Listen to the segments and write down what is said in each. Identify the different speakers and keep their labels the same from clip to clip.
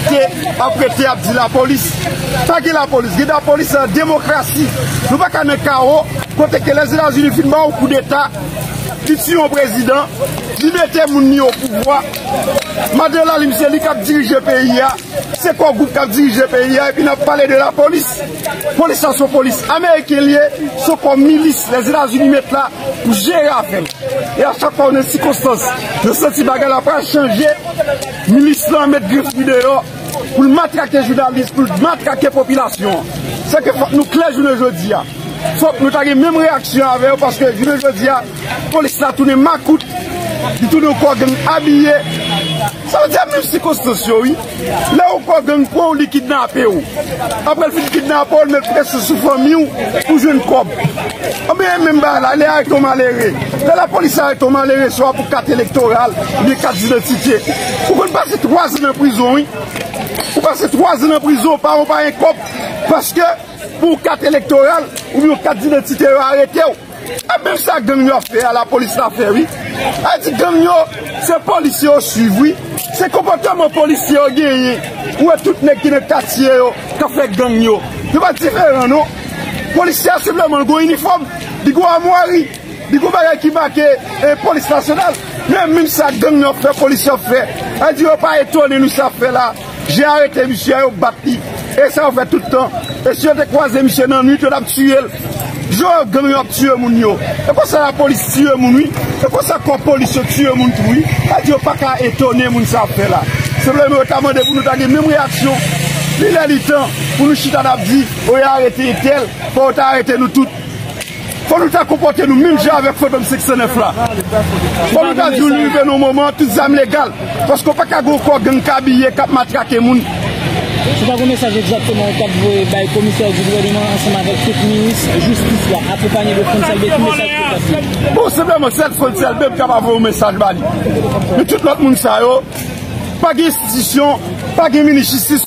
Speaker 1: Te aprete ap di la polis. Pa gen la polis. Gen la polis nan demokrasi. Nou pa ka nan kawo. Kote ke les etats unis fin ba ou kou deta. Li tiye yon prezidan. Li mete moun ni yo pouvwa. Madan la lim se li kap dirije peyi ya. Se kou group kap dirije peyi ya. Epi nan pale de la polis. Polis sa son polis. Ameriken li ye. Son kou milis. Les etats unis met la. Pou jere afe. E a chak pa ou nan sikonstans. Nan santi bagay la pa chanje. Milis lan met grif li deyò pou l matrake jounalis, pou l matrake popilasyon an. Sèke fòk nou klè jounen jodi a. Fòk nou ta gen menm reyaksyon avè yo paske jounen jodi a polis la tounen makout, li tounen yon kò gang abiye. Sa vle di a menm sikonstans yo wi. Lè yon kò gang pran w li kidnape w. Aprè l fin kidnape w li met presyon sou fanmi w pou jwenn kòb. Anben menm bagay la, lè arete yon malere, lè lapolis arete yon malere swa pou kat elektoral oubyen kat didantite, ou konn pase 3 zan nan prizon wi. Ou pase 3 zan nan prizon, pa ou pa gen kòb, paske pou yon kat elektoral oubyen yon kat didantite yo arete ou. E menm sa gang yo ap fè a, lapolis la fè wi. A di gang yo, se polisye yo swiv wi. Se konpòteman polisye yo genyen, ou wè tout nèg ki nan katye yo kap fè gang yo. Yo pa diferan non. Polisye a senpleman l gen yon inifòm, li gen yon amwari, li gen yon bagay ki make polis nasyonal. Men menm sa gang nan fè, polisye yo ap fè. Sa vle di yo pa etone nou sa yo ap fè la. Yo arete misye a, yo bat li. E sa yo fè tout tan. E si yo te kwaze misye nan nwit, yo t ap tiye l. Jan gang yo ap tiye moun yo. E konsa lapolis tiye moun wi. E konsa kò polis yo tiye moun tou wi. Sa vle di yo pa ka etone moun sa yo ap fè la. Senpleman yo ta mande pou nou ta gen menm reyaksyon. Li lè li tan pou nou chita n ap di. Fò yo arete entèl, fò yo ta arete nou tout. Fò nou ta konpòte nou menm jan avèk fantom 509 la. Fò nou ta di li rive nan moman an tout zam legal. Paske ou pa ka gen yon kò gang k abiye, k ap matrake moun. Se pa
Speaker 2: gen mesaj egzakteman ou t ap voye bay komisè di gouvèneman ansanm avèk tout minis jistis la akonpanye de Frantz Elbé ki mesaj ou ta voye? Bon senpleman sèl
Speaker 1: Frantz Elbé m kaba voye yon mesaj ba li. Men tout lòt moun sa yo pa gen enstitisyon, pa gen minis jistis.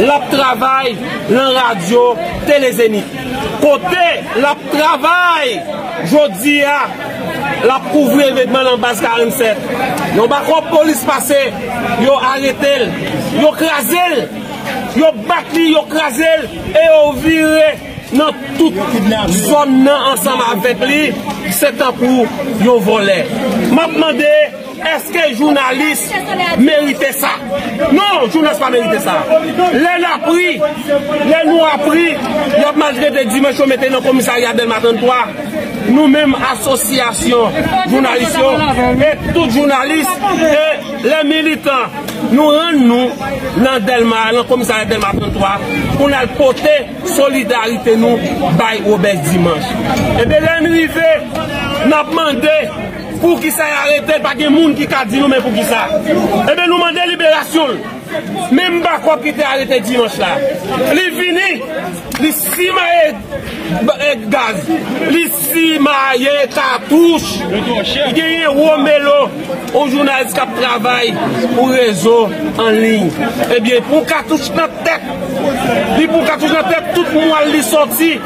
Speaker 3: L ap travay lan radyo Tele Zenith, kote l ap travay jodi a, l ap kouvri evenman lan Baz 47. Yon bakòp polis pase, yo arete l, yo kraze l, yo bat li, yo kraze l e yo vire nan tout zòn nan ansanm avèk li, se tankou yon vòlè. M ap mande. Eske jounalis merite sa? Non, jounalis pa merite sa. Lè nap ri, lè nou ap ri, yap maltrete dimanch yo mete nan komisarya Dèlma 33. Nou menm asosyasyon jounalis yo, e tout jounalis, e lè militan, nou rann nou nan Dèlma, nan komisarya Dèlma 33, pou n al pote solidarite nou bay Robes Dimanch. Epi lè n rive, nap mande. Poukisa y aretel pa gen moun ki ka di nou men poukisa Ebyen nou mande liberasyon l Menm Bakòp ki te arete dimanch la Li vini Li simaye gaz Li simaye katouch Genyen Romelo Yon jounalis k ap travay pou rezo anliy Ebyen pou katouch nan tèt Li pou katouch nan tèt tout mwal li soti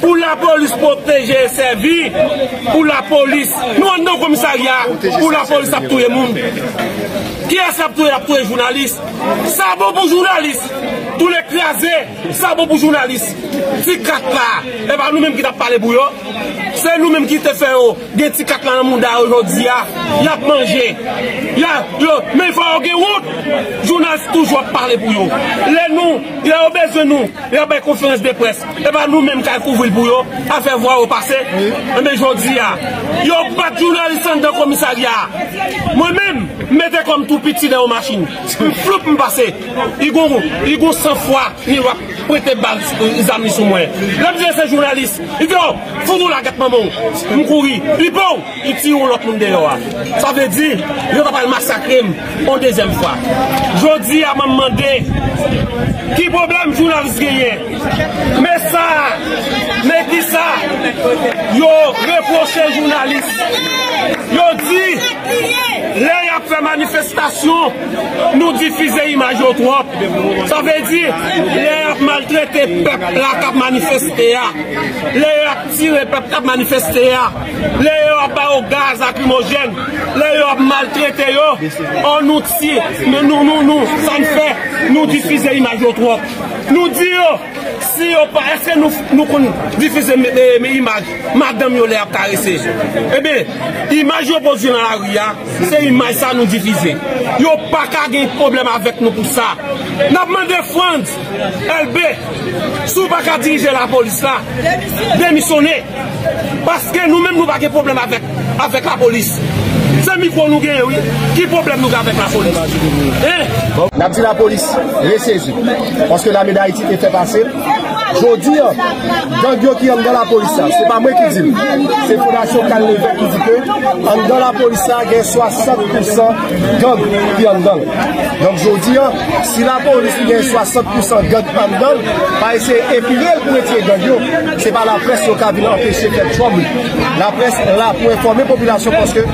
Speaker 3: Pou la polis pwoteje e sèvi Pou la polis Nou anndan komisarya Pou la polis ap touye moun Kiyès yap touye yap touye jounalis Sa bon pou jounalis Toulè kraze Sa bon pou jounalis Ti kat la Epa nou menm ki tap pale pou yo Se nou menm ki te fè yo. Gen ti kat la nan mouda yo jodi a, y ap manje, y a yo, men fò yo gen wont! Jounalist toujou ap pale pou yo. Lè nou, lè yo bezwen nou, y ap bay konferans de près. E pa nou menm k al kouvri l pou yo, al fè vwa yo pase. Enben jodi a, yo bat jounalist anndan komisarya a. Mwen menm, m mete kò m tou piti nan yon machin. M floup m pase. Li gon, li gon san fwa li wap prete bal, zam li sou mwen. Lè m di l se jounalist, li di o! Fou moula gèt manman w m kouri pipo w ki tiye yon lòt moun deyò a sa vle di yo ta pral masakre m yon dezyèm fwa jodi a mwen mande ki pwoblèm jounalis genyen men sa men kisa yo repwoche jounalis yo di lè y ap fè manifestasyon nou difize imaj yo twòp sa vle di lè y ap maltrete pèp la k ap manifeste a. Lè yo ap tire pèp k ap manifeste a, lè yo ap ba yo gaz lakrimojèn, lè yo ap maltrete yo, oh nou ti, nou nou nou, sa n fè, nou difize imaj yo twòp. Nou di yo, si yo pa, èske nou nou konn difize imaj madanm yo lè y ap karese? Enben, imaj yo pwodui nan lari a, se imaj sa nou difize. Yo pa ka gen pwoblèm avèk nou pou sa. N ap mande Frantz! Elbe si w pa ka dirije la polis la demisyone paske nou menm nou pa gen pwoblèm avèk la polis se mikwo nou genyen wi ki pwoblèm nou gen avèk la polis.
Speaker 4: N ap di la polis resezi paske lame dayiti te fè pase jodi an gang yo ki anndan la polis la se pa mwen ki di l se fondasyon kal levèk ki di ke anndan la polis la gen 60 pousan gang ki anndan l donk jodi an Si lapolis ki gen 60 pousan gang anndan l pa eseye epile l pou retire gang yo, se pa laprès yo ka vin anpeche fè trouble. Laprès la pou enfòme popilasyon paske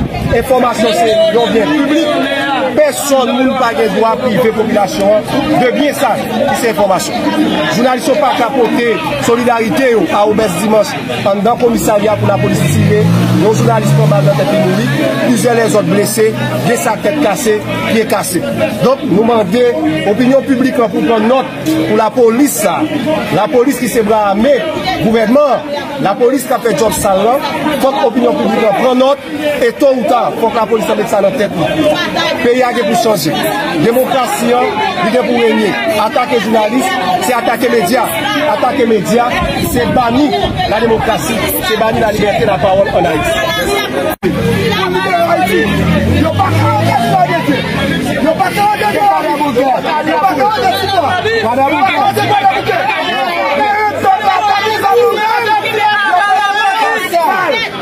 Speaker 4: enfòmasyon se yon byen piblik, pèsòn moun pa gen dwa prive popilasyon an de byen sa ki se enfòmasyon. Jounalis yo pa ka pote solidarite yo a Obès Dimanch. Anndan komisarya pou lapolis tire, yon jounalis pran bal nan tèt li mouri, plizyè lèzòt blese, gen sa tèt kase, pye kase. Donk nou mande opinyon piblik lan pou pran nòt pou lapolis sa a, lapolis ki se bra ame gouvènman an, lapolis k ap fè djòb sal lan, fòk opinyon piblik lan pran nòt. E to ou ta, fok la polis lan met sa nan tet li. Peyi a gen pou chanje. Demokrasi an, li gen pou renye. Atake jounalis, se atake medya. Atake medya, se bani la demokrasi, se bani la libète la pawol an Ayiti.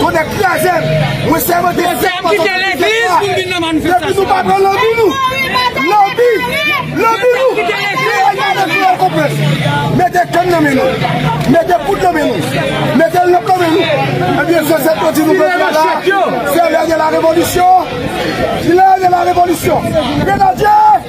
Speaker 1: Tonnè kraze m! Mwen sèmante fèt pa sòti nan kèk la! Depi nou pa pran lanbi nou! Lanbi! Lanbi nou! Kreyòl pa gen kreyòl konprann! Mete kann nan men nou! Mete poud nan men nou! Mete lanp nan men nou! Ebyen zòzèt yo di nou jodi a la, se lè de la revolisyon! Lè de la revolisyon! Grenadye!